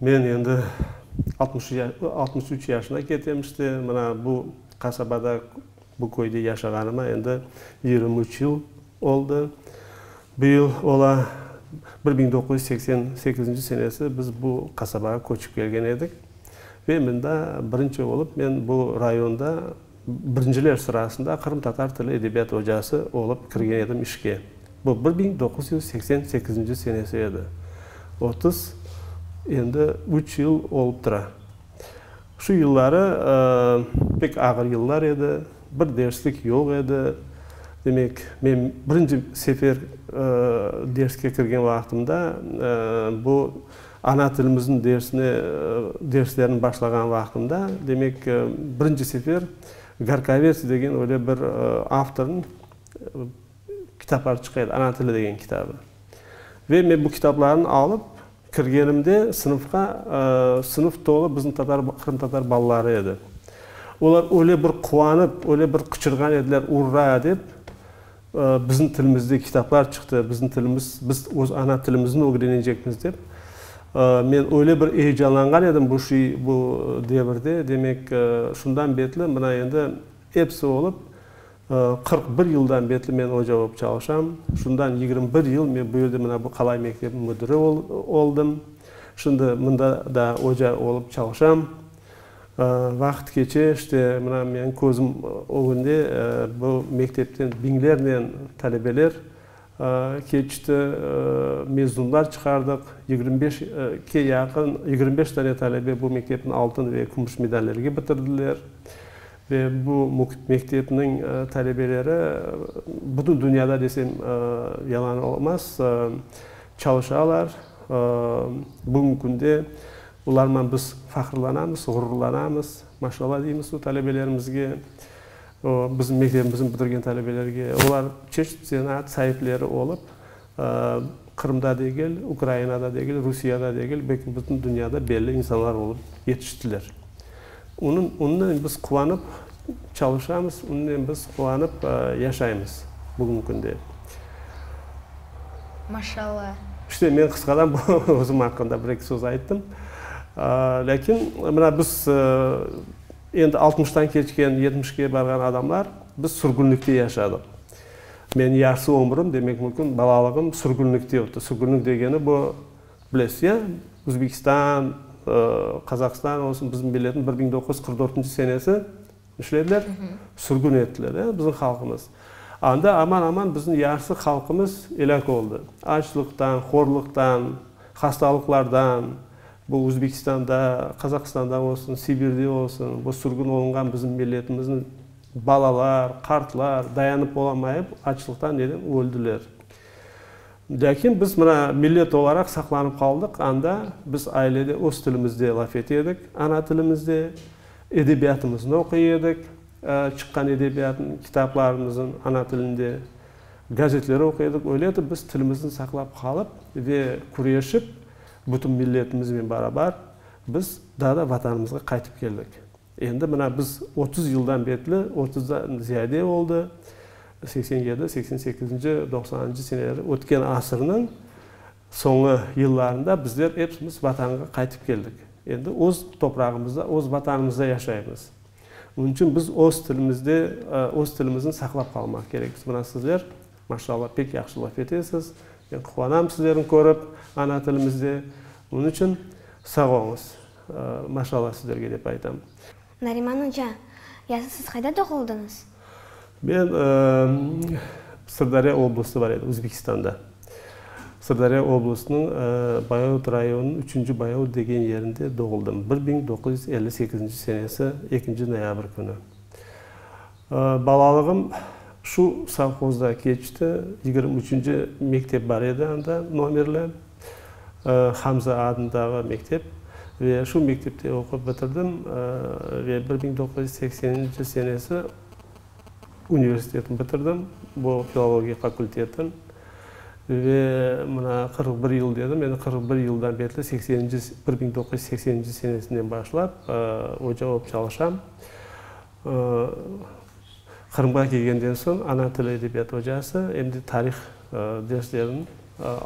Men endi altmış altmış üç yaşına ketem işte, mına bu qasabada, bu köyde yaşağanıma endi yigirmi üç yıl oldı. Bu yıl ola bir biñ doquz yüz seksen sekizinci senesi biz bu qasabağa köçip kelgen edik. Ve mında birinci olıp men bu rayonda Birinciler sırasında qırımtatar tili edebiyat ocası olıp kirgen edim işke. Bu bir biñ doquz yüz seksen sekizinci senesi edi. Otuz, endi üç yıl olıp tura. Şu yılları pek ağır yıllar edi, bir derslik yoq edi. Demek, men birinci sefer derske kirgen vaqtımda bu. Ana tilimizniñ dersine, derslerni başlağan vaqtımda, demek, birinci sefer Garkovets degen öyle bir avtornıñ kitapları çıqa edi, Ana tili degen kitabı. Ve men bu kitaplarnı alıp kirgenimde sınıfqa, sınıf tolu bizim tatar, qırımtatar balaları edi. Olar öyle bir quvanıp, öyle bir qıçırğan ediler, urra! dep, Bizim tilimizde kitaplar çıqtı, bizim tilimiz, biz öz ana tilimizni ögrenecekmiz dep. Men öyle bir eyecanlanğan edim bu şey, bu devirde, demek, şundan betli mına endi episi olıp qırq bir yıldan betli men oca olıp çalışam. Şundan yigirmi bir yıl men bu yerde mına bu qalay mektebiniñ müdiri oldım. Şimdi mında da oca olıp çalışam. Vaqıt keçe, işte, mına menim közüm ögünde bu mektepten biñlernen talebeler keçti, mezunlar çıqardıq. Yigirmi beş ke yaqın, yigirmi beş dane talebe bu mektepni altın ve kümüş medallerge bitirdiler. Ve bu mektepniñ talebeleri bütün dünyada desem yalan olmaz, çalışalar. Bugüngi künde Olarman biz fahırlanamız, ğururlanamız. Maşallah deymiz o talebelerimizge, o bizim mektebimizni bitirgen talebelerge. Olar çeşit zenaat saipleri olıp, Qırımda degil, Ukrainada degil, Rusiyada degil, belki bütün dünyada belli insanlar olıp yetiştiler. Onınen biz quvanıp çalışamız, onınen biz quvanıp yaşaymız bugünki künde. Maşallah. İşte men qısqadan özüm aqqında bir eki söz ayttım. Lâkin mına biz endi altmıştan keçken, yetmişke barğan adamlar biz sürgünlikte yaşadıq. Menim yarısı ömrüm, demek mümkün, balalığım sürgünlikte ötti. Sürgünlik degeni bu, Bilesiz ya, Özbekistan, Qazaqstan olsun, bizim milletni bir biñ doquz yüz qırq dörtünci senesi nişlediler, sürgün ettiler, ya, bizim halqımız. Anda aman-aman bizim yarısı halqımız elâk oldı. Açlıqtan, horluqtan, hastalıqlardan, bu Özbekistanda, Qazaqstanda olsun, Sibirde olsun, bu sürgün olunğan bizim milletimizni balalar, qartlar dayanıp olamayıp, açlıqtan neden öldiler. Lâkin biz mına millet olaraq saqlanıp qaldıq, anda biz ailede öz tilimizde laf ete edik, ana tilimizde, edebiyatımıznı oquy edik, çıqqan edebiyatın, kitaplarımızın ana tilinde, gazetleri oquy edik, öyle etip biz tilimizni saqlap qalıp ve küreşip bütün milletimiznen barabar biz daa da Vatanımızğa qaytıp keldik. Endi mına biz otuz yıldan betli, otuzdan ziyade oldı, seksen yedi, seksen sekizinci, doqsanıncı seneleri, ötken asırnıñ soñu yıllarında bizler epsimiz Vatanğa qaytıp keldik. Endi öz toprağımızda, öz Vatanımızda yaşaymız. Onıñ içün biz öz tilimizde, öz tilimizni saqlap qalmaq kerekmiz. Mına sizler, maşallah, pek yahşı laf etesiz. Men quvanam sizlerni körip, ana tilimizde. Onıñ içün sağ oñız. Maşallah sizlerge dep aytam. Nariman oca, yazı siz qayda doğuldıñız? Men Sırdarya oblusı bar edi, Uzbekistanda. Sırdarya oblusınıñ Bayaut rayonınıñ Üçünci Bayaut degen yerinde doğuldım, bir biñ doquz yüz elli sekizinci senesi ekinci noyabr künü. Balalığım şu sovhozda keçti. Yigirmi üçünci mektep bar edi anda, nomerli. Hamza adındağı mektep. Ve şu mektepte oqup bitirdim. Ve bir biñ doquz yüz sekseninci senesi universitetni bitirdim, bu filologiya fakültetin. Ve mına qırq bir yıl dedim, endi qırq bir yıldan betli sekseninci, bir biñ doquz yüz sekseninci senesinden başlap oca olıp çalışam. O, Qırımğa kelgenden soñ ana tili edebiyatı ocası, em de tarih derslerin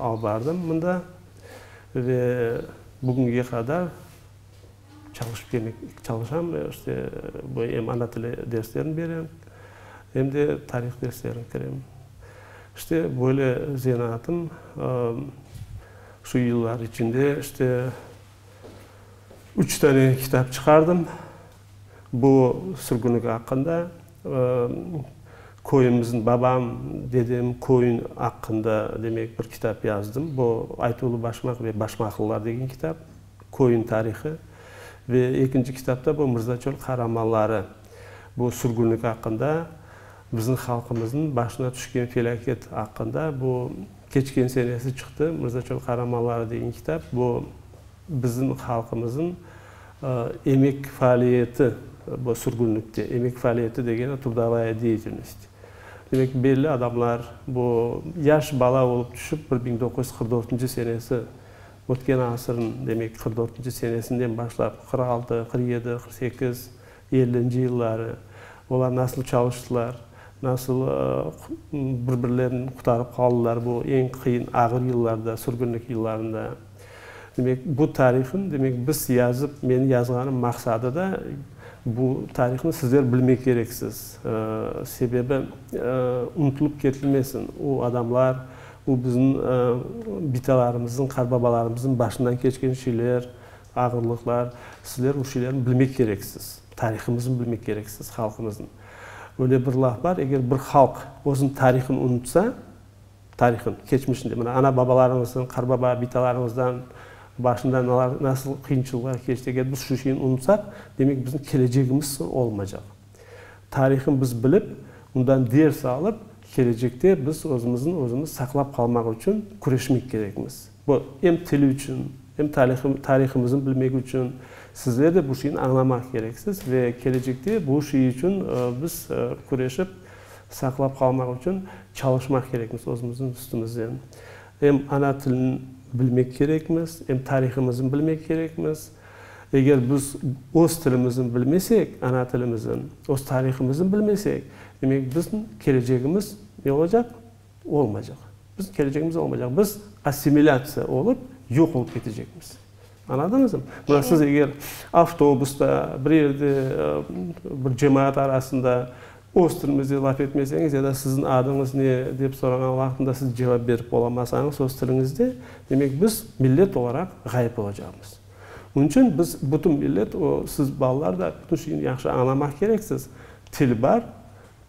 alıp bardım mında. Ve bugünge qadar çalışıp kelmek, çalışam, işte, bu em ana tili derslerini berem, em de tarih derslerini kirem. İşte, böyle zenaatım şu yıllar içinde, işte, üç tane kitap çıqardım. Bu sürgünlik aqqında köyümizniñ, babam, dedem köyün aqqında, demek, bir kitap yazdım. Bu Aytuğlu Başmaq ve Başmaqlılar degen kitap, köyün tarihı. Ve ekinci kitapta bu Mırza Çöl qaramanları. Bu sürgünlik aqqında, bizim halqımıznıñ başına tüşken felâket aqqında. Bu keçken senesi çıqtı Mırza Çöl qaramanları degen kitap. Bu. Bizim halqımızın emek faaliyeti bu sürgünlikte, emek faaliyeti degeni trudovaya deyetilnost. Demek, belli adamlar bu yaş bala olıp tüşip, bir biñ doquz yüz qırq dörtünci senesi, ötken asırın, demek, qırq dörtünci senesinden başlap, qırq altı, qırq yedi, qırq sekiz, ellinci yılları, olar nasıl çalıştılar, nasıl bir birlerini qurtarıp qaldılar bu eñ qıyın, ağır yıllarda, sürgünlik yıllarında. Demek, bu tarihniñ, demek, biz yazıp, menim yazğanım maqsadı da, bu tarihni sizler bilmek kereksiz. Sebebi, unutılıp ketilmesin, o adamlar, o bizim bitalarımıznıñ, qarbabalarımıznıñ başından keçken şeyler, ağırlıqlar. Sizler o şeylerni bilmek kereksiz. Tarihımıznı bilmek kereksiz, halqımıznıñ. Öyle bir laf bar, eger bir halq özüniñ tarihını unutsa, Tarihın, keçmişinde, mına, ana-babalarıñızdan, qarbaba, bitalarıñızdan başında nalar, nasıl qıyınçılıqlar keçti, eger biz şu şeyni unutsaq, demek, bizim kelecegimiz olmaycaq. Tarihın biz bilip, ondan ders alıp, kelecekte biz özümüzni özümiz saqlap qalmaq içün küreşmek kerekmiz. Bu em tili içün, em tarihımıznı bilmek içün. Sizler de bu şeyni añlamaq kereksiz ve kelecekte bu şey içün biz küreşip saqlap qalmaq içün çalışmaq kerekmiz özümüzniñ üstümizden. Em ana tilini bilmek kerekmiz, em tarihımıznı bilmek kerekmiz. Eger biz öz tilimizni bilmesek, ana tilimizni, öz tarihımıznı bilmesek, demek, bizim kelecegimiz ne olacaq? Olmaycaq. Bizim kelecegimiz olmaycaq. Biz assimilâtsiya olıp, yoq olıp ketecekmiz. Añladıñızmı? Mına siz eger avtobusda, bir yerde, bir cemaat arasında öz tilimizde laf etmeseñiz ya da siziñ adıñız ne dep sorañan vaqtında siz cevap berip olamasañız öz tiliñizde, demek, biz millet olaraq ğayıp olacaqmız. Onıñ içün biz bütün millet, siz balalar da bütün şeyni yahşı añlamaq kereksiz. Til bar.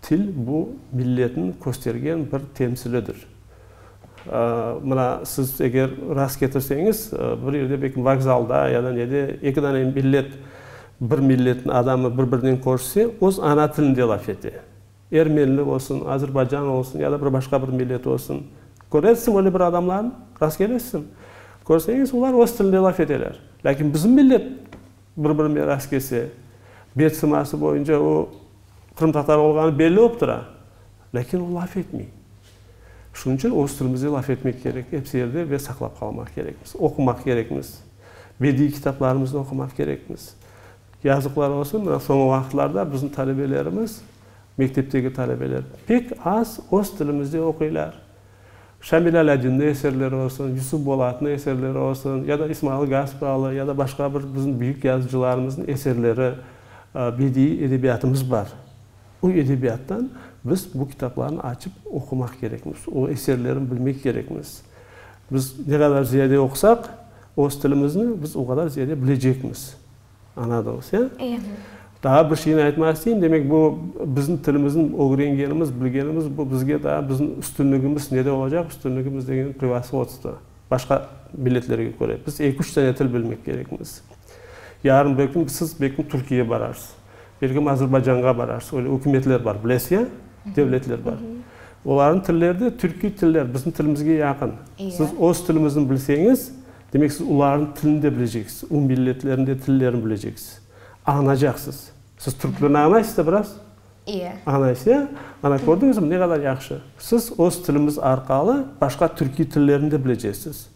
Til, bu milletniñ köstergen bir temsilidir. Mına siz eger rast ketirseñiz, bir yerde belki vokzalda ya da nede eki dane millet, bir milletniñ adamı bir-birinen körse, öz ana tilinde laf ete. Ermenli olsun, azerbaycanlı olsun ya da bir başqa bir millet olsun. Körersiñ öyle bir adamlarnı, rast kelesiñ. Körseñiz, olar öz tilinde laf eteler. Lâkin bizim millet bir-birine rast kelse, bet sıması boyunca o qırımtatar olğanı belli olıp tura, lâkin o laf etmey. Şunıñ içün öz tilimizde laf etmek kerek episi yerde ve saqlap qalmaq kerekmiz, oqumaq kerekmiz, bediiy kitaplarımıznı oqumaq kerekmiz. Yazıqlar olsun, mına soñu vaqıtlarda bizim talebelerimiz, mektepteki talebeler pek az öz tilimizde oquylar. Şamil Alâdinniñ eserleri olsun, Yusuf Bolatnıñ eserleri olsun, ya da İsmail Gaspralı, ya da başqa bir bizim büyük yazıcılarımıznıñ eserleri, bediiy edebiyatımız bar. O edebiyattan biz bu kitaplarnı açıp oqumaq kerekmiz, o eserlerini bilmek kerekmiz. Biz ne qadar ziyade oqusaq, öz tilimizni biz o qadar ziyade bilecekmiz. Añladınız, ya? İyi. Daa bir şeyni aytmaq isteyim, demek, bu bizim tilimizin ögrengenimiz, bilgenimiz, bu bizge daa bizim üstünligimiz nede olacaq? Üstünligimiz degeni prevasvodstvo, başqa milletlerge köre. Biz eki, üç tane til bilmek kerekmiz. Yarın bir kün siz belki Türkiyege bararsız, belki Azerbaycanğa bararsız, öyle ükümetler bar, bilesiz, ya? Devletler bar. Olarnıñ tilleri de türkiy tiller, bizim tilimizge yaqın. Siz öz tilimizni bilseñiz, Demek, siz ularnıñ tilini de bileceksiz, o milletlerniñ de tillerini bileceksiz, añlacaqsız. Siz türk tilini añlaysız da biraz? İe. Añlaysız, ya? Ana, kördiñizmi, ne qadar yahşı! Siz öz tilimiz arqalı başqa türkiy tillerini de bilecesiz.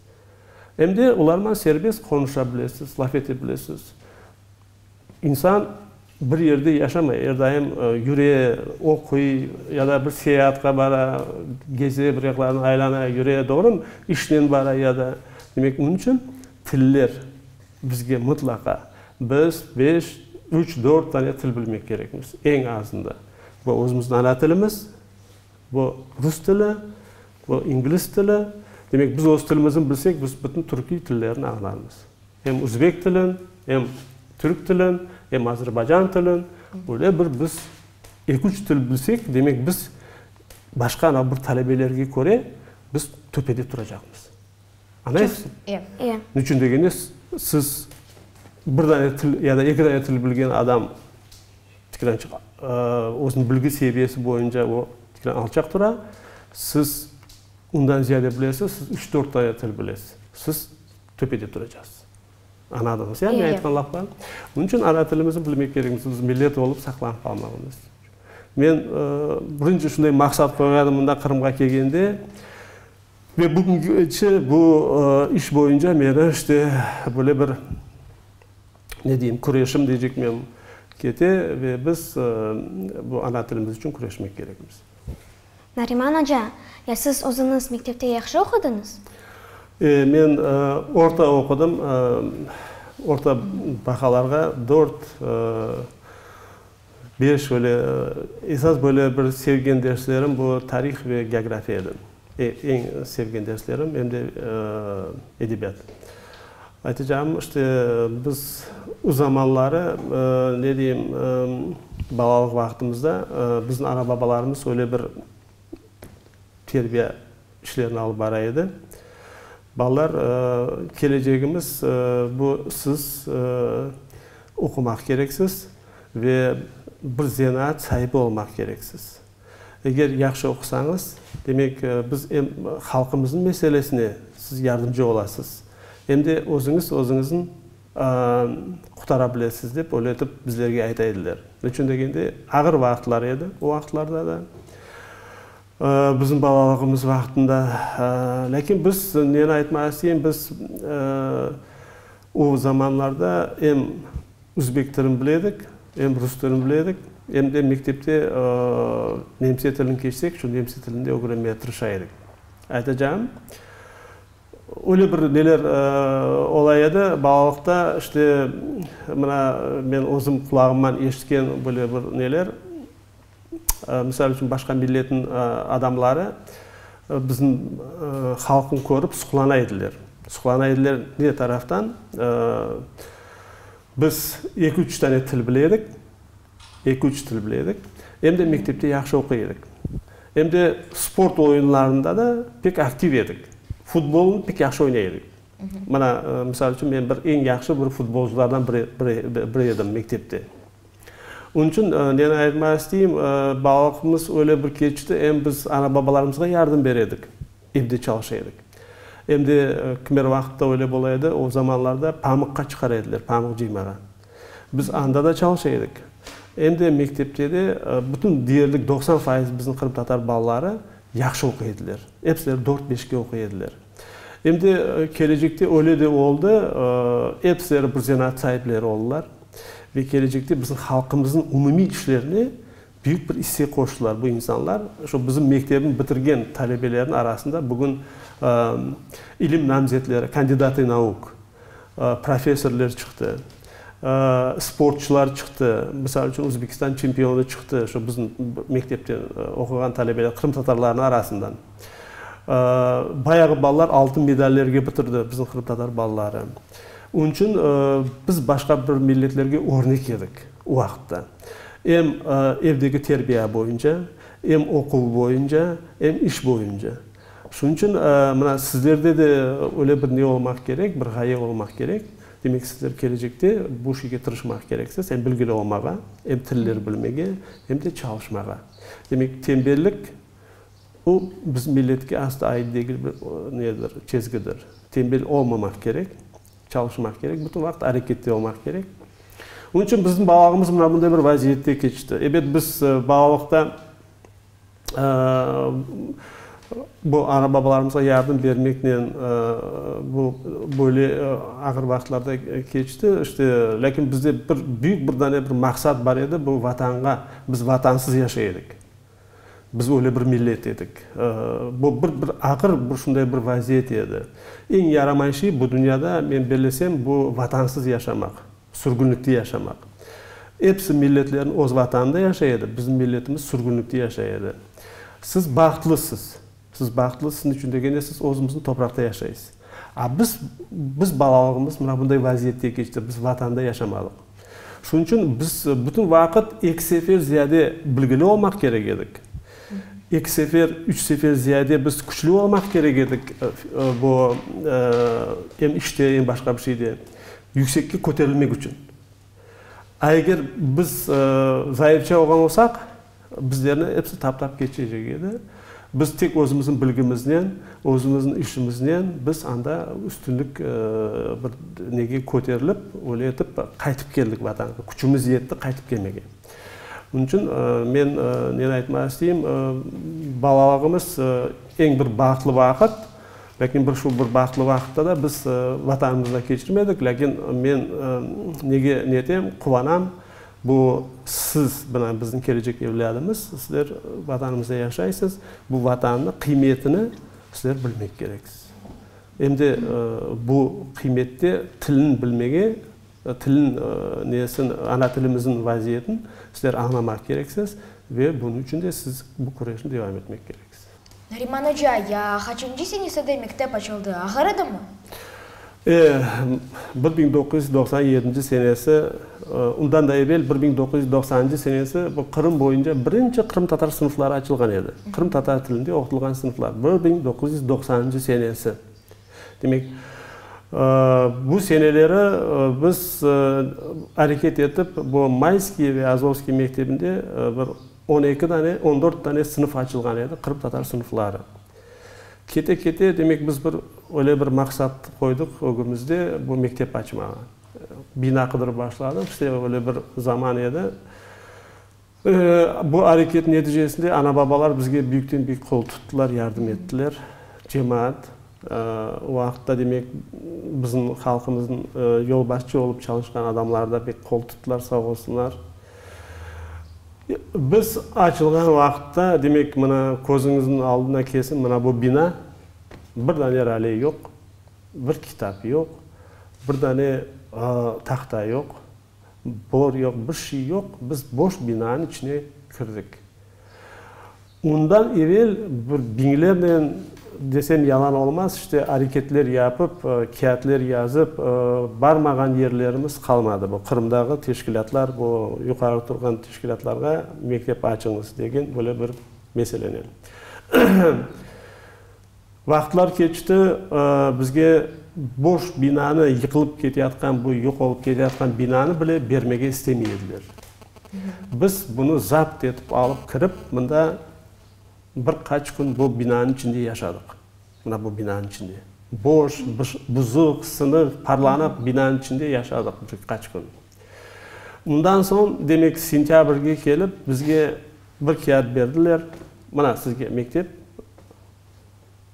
Em de olarman serbest qonuşa bilesiz, laf ete bilesiz. İnsan bir yerde yaşamay, er daim yüre, oquy ya da bir seyaatqa bara, geze, bir yaqlarını aylana, yüre, doğrumı? İşnen bara ya da. Demek, onıñ içün tiller bizge mıtlaqa, biz beş, üç, dört tane til bilmek kerekmiz, eñ azında. Bu özümizniñ ana tilimiz, bu rus tili, bu ingliz tili. Demek, biz öz tilimizni bilsek, biz bütün türkiy tillerini añlarmız. Em üzbek tilin, em türk tilin, em azerbaycan tilin, böyle bir biz eki-üç til bilsek, demek, biz başqa ana bir talebelerge köre biz töpede turacaqmız. Añlaysız? Ev. Ev. Ne içün degende, siz bir dane til ya da eki dane til bilgen adam tikir ancaq özüniñ bilgi seviyesi boyunca o tikir alçaq tura, siz ondan ziyade bilesiz, siz üç-dört dane til bilesiz. Siz. Töpede turacağız. Añladınız ya, men aytqan laflarım? Bunıñ içün ana tilimizni bilmek kerekmiz, biz millet olıp saqlanıp qalmağımız içün. Men birinci şunday maqsat qoyğan edim mında Qırımğa kelgende. Ve bugünce bu iş boyunca meni işte böyle bir, ne deyim, küreşim diyecekmem, kete ve biz bu ana tilimiz içün küreşmek kerekmiz. Nariman oca, ya siz özüñiz mektepte yahşı oqudıñız? E, men orta oqudım, orta bahalarğa dört, beş, öyle. Esas böyle bir sevgen derslerim bu tarih ve geografiya edi. Eñ sevgen derslerim, em de edebiyat. Aytacağım, işte, biz o zamanları, ne deyim, balalıq vaqtımızda bizim ana-babalarımız öyle bir terbiya işlerini alıp bara edi, balalar, kelecegimiz bu siz, oqumaq kereksiz ve bir zenaat saibi olmaq kereksiz. Eger yahşı oqusañız, demek, biz em halqımıznıñ meselesine siz yardımcı olasız, em de özüñiz özüñizni qurtara bilesiz, dep öyle etip bizlerge ayta ediler. Neçün degende, ağır vaqıtlar edi o vaqıtlarda da, bizim balalığımız vaqtında. Lâkin biz, neni aytmaq isteyim, biz o zamanlarda em Üzbek tilin bile edik, em rus tilin bile edik, em de mektepte nemse tilin keçsek, şu nemse tilini de ögrenmege tırışa edik. Aytacağım, öyle bir neler ola edi, balalıqta işte mına men özüm qulağımman eşitken böyle bir neler, Misal içün, başqa milletniñ adamları bizim halqnı körip suqlana ediler. Suqlana ediler ne taraftan? Biz eki-üç tane til bile edik, eki-üç til bile edik, em de mektepte yahşı oquy edik. Em de sport oyunlarında da pek aktiv edik. Futbolnı pek yahşı oynay edik. Mına, misal içün, men bir eñ yahşı bir futbolcılardan biri edim mektepte. Onıñ içün neni ayırtmaq isteyim, balıqımız öyle bir keçti, em biz ana-babalarımızğa yardım ber edik, evde çalışa edik. Em de kimer vaqıtta öyle bola edi, o zamanlarda pamıqqa çıqara ediler, pamıq cıymağa. Biz anda da çalışa edik, em de mektepte de bütün deyerlik doqsan fayız bizim qırımtatar balaları yahşı oquy ediler. Epsileri dört-beşke oquy ediler. Em de kelecekte öyle de oldı, episi reprezentât saipleri oldılar ve kelecekte bizim halqımıznıñ umumiy işlerine büyük bir isse qoştılar bu insanlar. Şu bizim mektebni bitirgen talebelerniñ arasında bugün ilim namzetleri, kandidati nauk, professorler çıqtı, sportçılar çıqtı, misal içün Özbekistan çempionı çıqtı, şu bizim mektepte oquğan talebeler, qırımtatarlarnıñ arasından. Bayağı balalar altın medallerge bitirdi, bizim qırımtatar balaları. Onıñ içün biz başqa bir milletlerge örnek edik o vaqıtta. Em evdeki terbiya boyunca, em oquv boyunca, em iş boyunca. Şunıñ içün mına sizlerde de öyle bir ne olmaq kerek, bir ğaye olmaq kerek. Demek, sizler kelecekte bu şeyge tırışmaq kereksiz, em bilgili olmağa, em tilleri bilmege, em de çalışmağa. Demek, tembellik, bu biz milletke asla ait degil bir nedir, çezgidir. Tembel olmamaq kerek, çalışmaq kerek, bütün vaqıt arekette olmaq kerek. Onıñ içün bizim balalığımız mına bunday bir vaziyette keçti. Ebet, biz balalıqta. Bu ana babalarımızğa yardım bermeknen bu böyle ağır vaqıtlarda keçti. İşte, lâkin bizde bir büyük bir dane bir maqsat bar edi, bu Vatanğa, biz Vatansız yaşay edik. Biz öyle bir millet edik. Bu bir bir ağır bir şunday bir vaziyet edi. Eñ yaramayışı bu dünyada, men bellesem, bu Vatansız yaşamaq. Sürgünlikte yaşamaq. Episi milletlerniñ öz vatanında yaşay edi, bizim milletimiz sürgünlikte yaşay edi. Siz bahtlısız. Siz bahtlısız ne içün degende siz özümizniñ topraqta yaşaysız. A biz, biz balalığımız mına bunday vaziyette keçti, biz vatanda yaşamadıq. Şunıñ içün biz bütün vaqıt eki sefer ziyade bilgili olmaq kerek edik. Eki sefer, üç sefer ziyade biz küçlü olmaq kerek edik, bu, em işte, em başqa bir şeyde. yüksekke köterilmek içün. A eger biz zayıfça olğan olsaq, bizlerni episi taptap keçecek edi. Biz tek özümizniñ bilgimiznen, özümizniñ işimiznen biz anda üstünlik bir nege köterilip, öyle etip qaytıp keldik Vatanğa. Küçümiz yetti qaytıp kelmege. Bunıñ içün men neni aytmaq isteyim, balalığımız eñ bir bağıtlı vaqıt. Lâkin bir şu bir bahtlı vaqıtta da biz Vatanımızda keçirmedik. Lâkin men nege ne etem, quvanam, bu siz bilen biziñ kelecek evlâdımız, sizler Vatanımızda yaşaysız, bu Vatanni qıymetini sizler bilmek kereksiz. Em de bu qıymette tilin bilmege, tilin nesin, ana tilimizin vaziyetin sizler añlamaq kereksiz ve bunıñ içün de siz bu küreşni devam etmek kereksiz. Nariman oca, ya qaçıncı senesede mektep açıldı, ağır edimi? E, bir biñ doquz yüz doqsan yedinci senesi, ondan da evel bir biñ doquz yüz doqsanıncı senesi bu Qırım boyunca birinci qırımtatar sınıfları açılğan edi. Qırımtatar tilinde oqutılğan sınıflar, bir biñ doquz yüz doqsanıncı senesi. Demek, bu seneleri biz areket etip, bu Mayskiy ve Azovskiy mektebinde bir, On eki dane, on dört dane sınıf açılğan edi, qırımtatar sınıfları. Kete-kete, demek, biz bir öyle bir maqsat qoydıq ögümizde, bu mektep açmağa. Bina qıdırıp başladıq, işte öyle bir zaman edi. Bu areket neticesinde ana-babalar bizge büyükten-büyük qol tuttılar, yardım ettiler, cemaat. O vaqıtta, demek, bizim halqımıznıñ yolbaşçı olıp çalışqan adamları da pek qol tuttılar, sağ olsunlar. Biz açılğan vaqıtta, demek, mına közüñizniñ aldına kelsin, mına bu bina, bir dane rale yoq, bir kitap yoq, bir dane tahta yoq. Bor yoq, bir şey yoq, biz boş binanıñ içine kirdik. Ondan evel bir biñlernen, desem yalan olmaz, işte, areketler yapıp, kâğıtlar yazıp, barmağan yerlerimiz qalmadı. Bu Qırımdağı teşkilâtlar, bu yuqarı turğan teşkilâtlarğa mektep açıñız degen böyle bir meselenen. Vaqıtlar keçti, bizge boş binanı, yıqılıp keteyatqan bu, yoq olıp keteyatqan binanı bile bermege istemey ediler. Biz bunı zapt etip alıp kirip, mında bir qaç kün bu binanıñ içinde yaşadıq. Mına bu binanıñ içinde. Boş, buzıq, sınıq, parlanıp binanıñ içinde yaşadıq bir qaç kün. Bundan soñ, demek, sentâbrge kelip, bizge bir kâğıt berdiler, Mına, sizge mektep,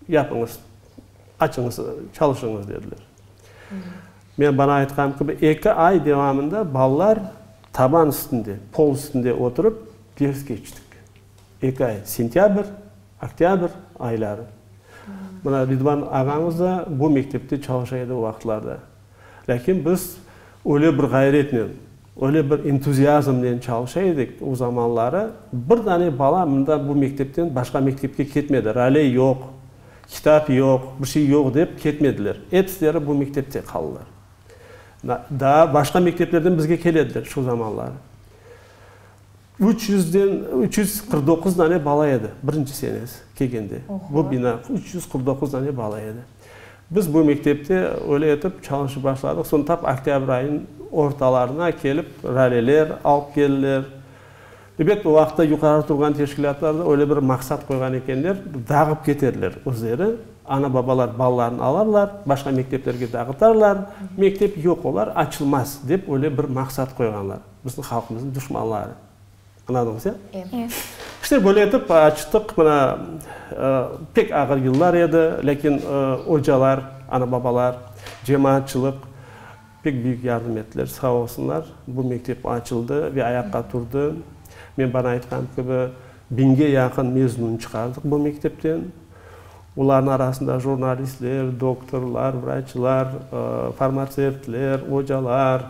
yapıñız, açıñız, çalışıñız, dediler. Men bana aytqanım kibi, eki ay devamında balalar taban üstünde, pol üstünde oturıp ders keçtik. Eki ay, sentâbr, oktâbr ayları. Mına, Ridvan ağañız da bu mektepte çalışa edi o vaqıtlarda. Lâkin biz öyle bir ğayretnen, öyle bir entuziazmnen çalışa edik, o zamanları bir dane bala mında bu mektepten başqa mektepke ketmedi, raley yoq, kitap yoq, bir şey yoq dep ketmediler. Epsileri bu mektepte qaldılar. Daa başqa mekteplerden bizge kelediler şu zamanları. Üç yüzden üç yüz qırq doquz dane bala edi, birinci senesi kelgende. Bu bina üç yüz qırq doquz dane bala edi. Biz bu mektepte öyle etip çalışıp başladıq. Soñ tap oktâbr ayınıñ ortalarına kelip raleler alıp keldiler. Ebet, o vaqıtta yuqarı turğan teşkilâtlar da öyle bir maqsat qoyğan ekenler, dağıp keterler özleri. Ana-babalar balalarını alarlar, başqa mekteplerge dağıtarlar, mektep yoq olar, açılmaz dep öyle bir maqsat qoyğanlar. Bizim halqımızın duşmanları. Anladınız, ya? Ya. İşte böyle etip açtıq, mına, pek ağır yıllar edi, lâkin ocalar, ana-babalar, cemaatçılıq pek büyük yardım ettiler, sağ olsunlar. Bu mektep açıldı ve ayaqqa turdı. Men bana aytqan kibi, Biñge yaqın mezun çıqardıq bu mektepten. Olarnıñ arasında jurnalistler, doktorlar, vraçlar, farmatsevtler, ocalar,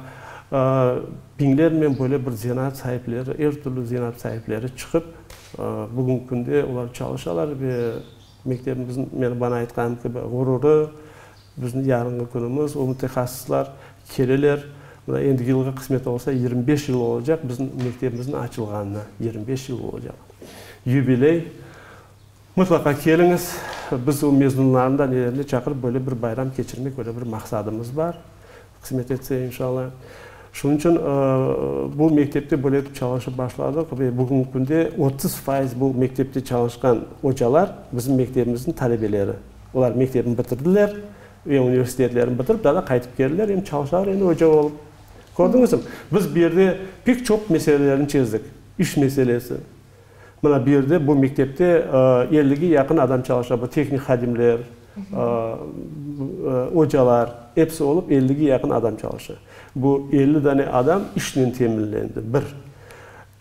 biñlernen böyle bir zenaat saipleri, er türlü zenaat saipleri çıqıp, bugünki künde olar çalışalar ve mektebimizniñ, meni, bana aytqanım kibi, ğururı, Bizni yarınğı künümiz, o mütehassıslar keleler. Mına endi yılğa qısmet olsa yigirmi beş yıl olacaq biziñ mektebimizniñ açılğanına, yigirmi beş yıl olacaq yubiley. Mıtlaqa keliñiz, biz o mezunlarnı da, nelerini da çaqırıp böyle bir bayram keçirmek, böyle bir maqsadımız bar. Qısmet etse, inşalla. Şunıñ içün bu mektepte böyle etip çalışıp başladıq ve bugünki künde otuz fayız bu mektepte çalışqan ocalar bizim mektebimizniñ talebeleri. Olar mektebini bitirdiler ve universitetlerini bitirip, daha da qaytıp keldiler, endi çalışalar endi oca olıp. Kördiñizmi? Biz bu yerde pek çoq meselelerni çezdik. İş meselesi. Mına bu yerde, bu mektepte ellige yaqın adam çalışa, bu tehnik hadimler, ocalar, episi olıp ellige yaqın adam çalışa. Bu elli dane adam işnen teminlendi, bir.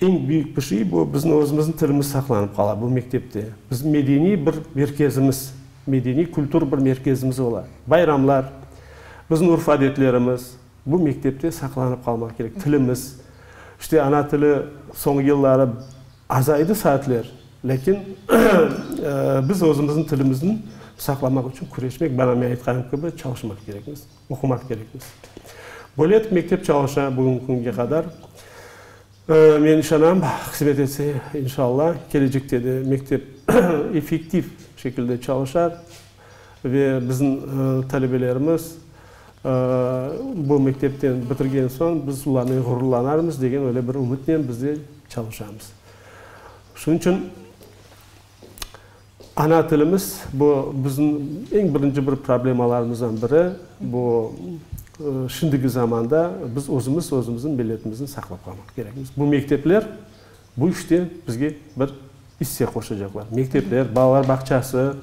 Eñ büyük bir şey, bu bizim özümizniñ tilimiz saqlanıp qala bu mektepte. Bizim medeniy bir merkezimiz, medeniy-kültür bir merkezimiz ola. Bayramlar, bizim urf-adetlerimiz, Bu mektepte saqlanıp qalmaq kerek, tilimiz. İşte ana tili soñki yılları azaydı saatler, lâkin biz özümizniñ tilimizni saqlamaq içün küreşmek, bana men aytqanım kibi, çalışmaq kerekmiz, oqumaq kerekmiz. Böyle etip mektep çalışa bugünki künge qadar. Men işanam, qısmet etse, inşalla, kelecekte de mektep effektiv şekilde çalışar ve bizim talebelerimiz bu mektepten bitirgen soñ biz olarnen ğururlanarmız degen öyle bir ümütnen biz de çalışamız. Şunıñ içün Ana tilimiz, bu bizim eñ birinci bir problemalarımızdan biri. Bu şimdiki zamanda biz özümiz, özümizniñ milletimizni saqlap qalmaq kerekmiz. Bu mektepler bu işte bizge bir isse qoşacaqlar. Mektepler, balalar bağçası,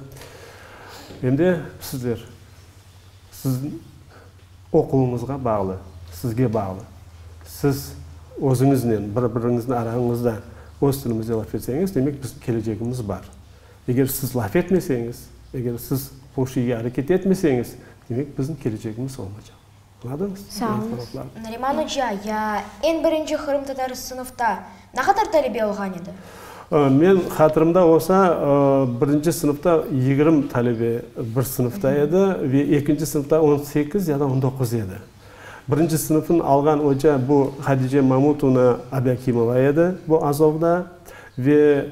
em de sizler. Siz oquvıñızğa bağlı, sizge bağlı. Siz özüñiznen, bir-biriñizni arañızda öz tilimizde laf etseñiz, demek, bizim kelecegimiz bar. Eger siz laf etmeseñiz, eger siz hoşiye areket etmeseñiz, demek, bizim kelecegimiz olmaycaq. Añladıñız? Sağ olıñız. Nariman oca, ya eñ birinci qırımtatar sınıfta Ne qadar talebe olğan edi? Men, hatırımda olsa, birinci sınıfta yigirmi talebe bir sınıfta edi ve ekinci sınıfta on sekiz ya da on doquz edi. Birinci sınıfnı alğan oca bu Hadice Mamutovna Abiakimova edi, bu Azovda ve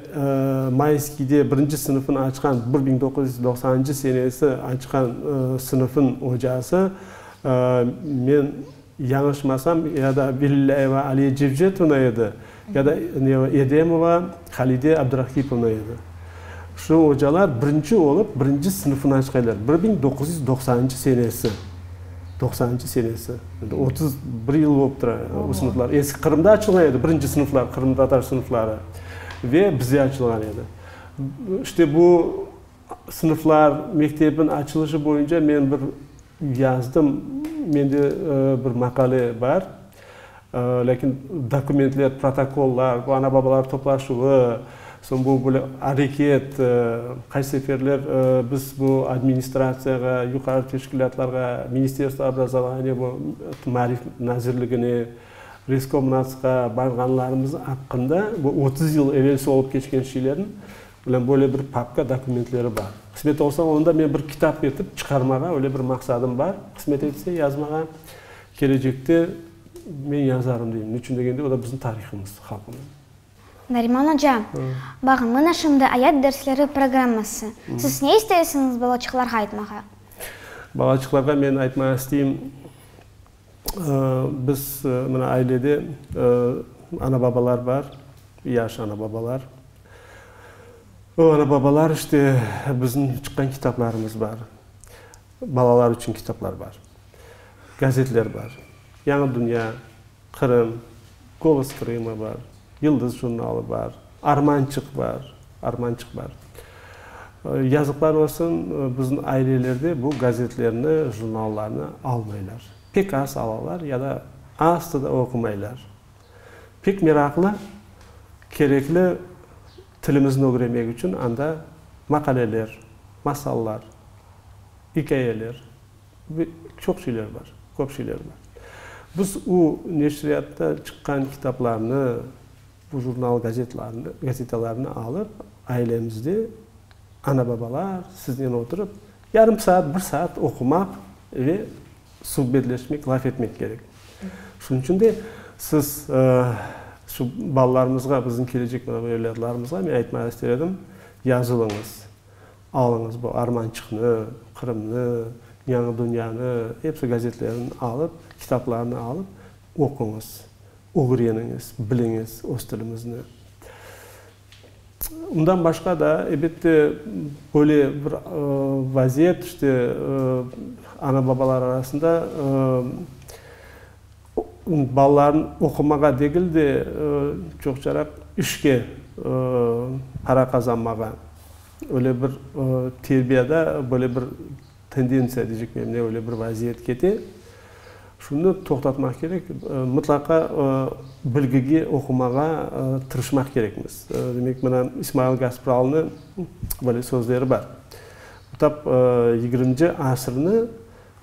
Mayskiyde birinci sınıfnı açqan, bir biñ doquz yüz doqsanıncı senesi açqan sınıfnıñ ocası. Men. Yañışmasam, ya da Belilâyeva Aliye Cevcetovna edi, ya da Edemova Halide Abdurahkipovna edi. Şu ocalar birinci olıp, birinci sınıfnı açqaylar, bir biñ doquz yüz doqsanıncı senesi. Doqsanıncı senesi. Endi otuz bir yıl olıp tura o sınıflar. Eski Qırımda açılğan edi, birinci sınıflar, qırımtatar sınıfları ve bizde açılğan edi. İşte bu Sınıflar, mektebin açılışı boyunca men bir yazdım, mende bir maqale bar. Lâkin dokumentler, protokollar, bu ana-babalar toplaşuvı, soñ bu böyle areket, qaç seferler biz bu administratsiyağa, yuqarı teşkilâtlarğa, Ministerstvo obrazovaniya, bu Maarif nazirligine, Reskomnatsqa barğanlarımız aqqında, bu otuz yıl evelsi olıp keçken şeylerni Menen böyle bir papka dokumentleri bar. Qısmet olsa, onu da men bir kitap etip çıqarmağa öyle bir maqsadım bar. Qısmet etse, yazmağa kelecekte men yazarım deyim. Ne içün degende, o da bizim tarihımız, halqımız. Nariman oca, bağın, mına şimdi ayat dersleri programması. Siz ne isteysiñiz balaçıqlarğa aytmağa? Balaçıqlarğa men aytmağa isteyim. Biz, mına, ailede ana-babalar bar, yaş ana-babalar. O ana-babalar, işte, bizim çıqqan kitaplarımız bar, balalar içün kitaplar bar, gazetler bar, Yañı dünya, Qırım, Golos Krıma bar. Yıldız jurnalı bar, Armançıq bar, Armançıq bar. Yazıqlar olsun, bizim ailelerde bu gazetlerni, jurnallarnı almaylar. Pek az alalar ya da aslı da oqumaylar. Pek meraqlı, kerekli tilimizni ögrenmek içün anda maqaleler, masallar, ikâyeler. Ve çoq şeyler bar, köp şeyler bar. Biz o neşriyatta çıqqan kitaplarnı, bu jurnal gazetlarnı, gazetalarnı alıp, ailemizde ana-babalar siznen oturıp, yarım saat, bir saat oqumaq ve subetleşmek, laf etmek kerek. Şunıñ içün de siz şu balalarımızğa, bizim kelecek evladlarımızğa men aytmaq ister edim, yazılıñız. Alıñız bu Armançıqnı, Qırımnı, Yañı dünyanı, episi gazetlerini alıp, kitaplarını alıp oquñız, ögreniñiz, biliñiz öz tilimizni. Bundan başqa da, ebette, böyle bir vaziyet, işte, ana-babalar arasında, balalarnı oqumağa degil de, çoqçaraq işke, para qazanmağa, öyle bir terbiyada böyle bir tendentsiya deycekmiyim, ne öyle bir vaziyet kete. Şunı toqtatmaq kerek, mıtlaqa bilgige, oqumağa tırışmaq kerekmiz. Demek, mına İsmail Gaspralnı böyle sözleri bar, tap yigirminci asırnı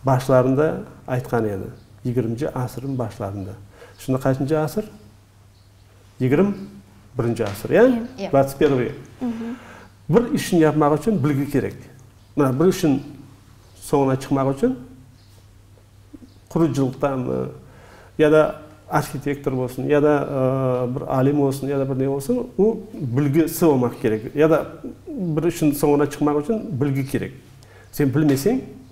Başlarında aytqan edi, yigirminci asırnıñ başlarında. Şimdi qaçıncı asır? Yigirim birinci asır, ya? Dvatsıt pervıy. Bir işni yapmaq içün bilgi kerek. Mına, bir işin soñuna çıqmaq içün qurucılıqtanmı, ya da arhitektor bolsun, ya da bir alim olsun, ya da bir ne olsun, o bilgisi olmaq kerek. Ya da bir işin soñuna çıqmaq içün bilgi kerek. Sen bilmeseñ,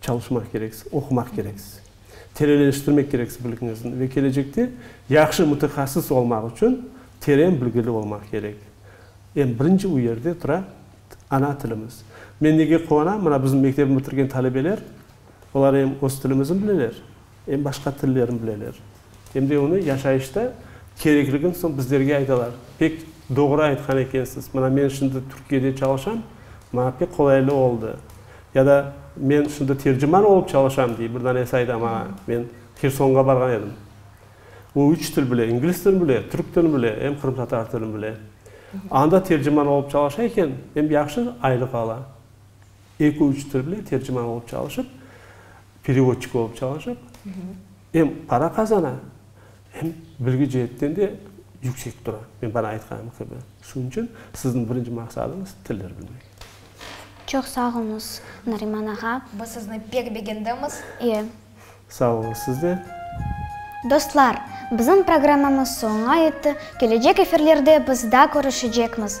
Çalışmaq kereksiz, oqumaq kereksiz, terenleştirmek kereksiz bilgiñizni ve kelecekte yahşı mütehassıs olmaq içün teren bilgili olmaq kerek. Eñ birinci u yerde tura ana tilimiz. Men nege quvanam, mına bizim mektebni bitirgen talebeler, olar eñ öz tilimizni bileler. Em başqa tillerin bileler, em de onı yaşayışta kerekligin soñ bizlerge aytalar. Pek doğru aytqan ekensiz. Mına men şimdi Türkiyede çalışam, maña pek qolaylı oldı. Ya da men şimdi terciman olıp çalışam, dey bir danesi ayta maña, men Hersonğa barğan edim. O üç til bile, ingliz tilini bile, türk tilini bile, em qırımtatar tilini bile. Anda terciman olıp çalışa eken, em yahşı aylıq ala. Eki-üç til bile terciman olıp çalışıp, Perevodçik olıp çalışıp, em para qazana, em bilgi ceetten de yüksek tura. Men bana aytqanım kibi. Şunıñ içün sizniñ birinci maqsadıñız tillerni bilmek. Çoq sağ olunız, Nariman ağa. Biz sizni pek begendimiz. İyi. Sağ olunız siz de. Dostlar, bizim programmamız soña yetti, kelecek efirlerde biz daa körüşecekmiz.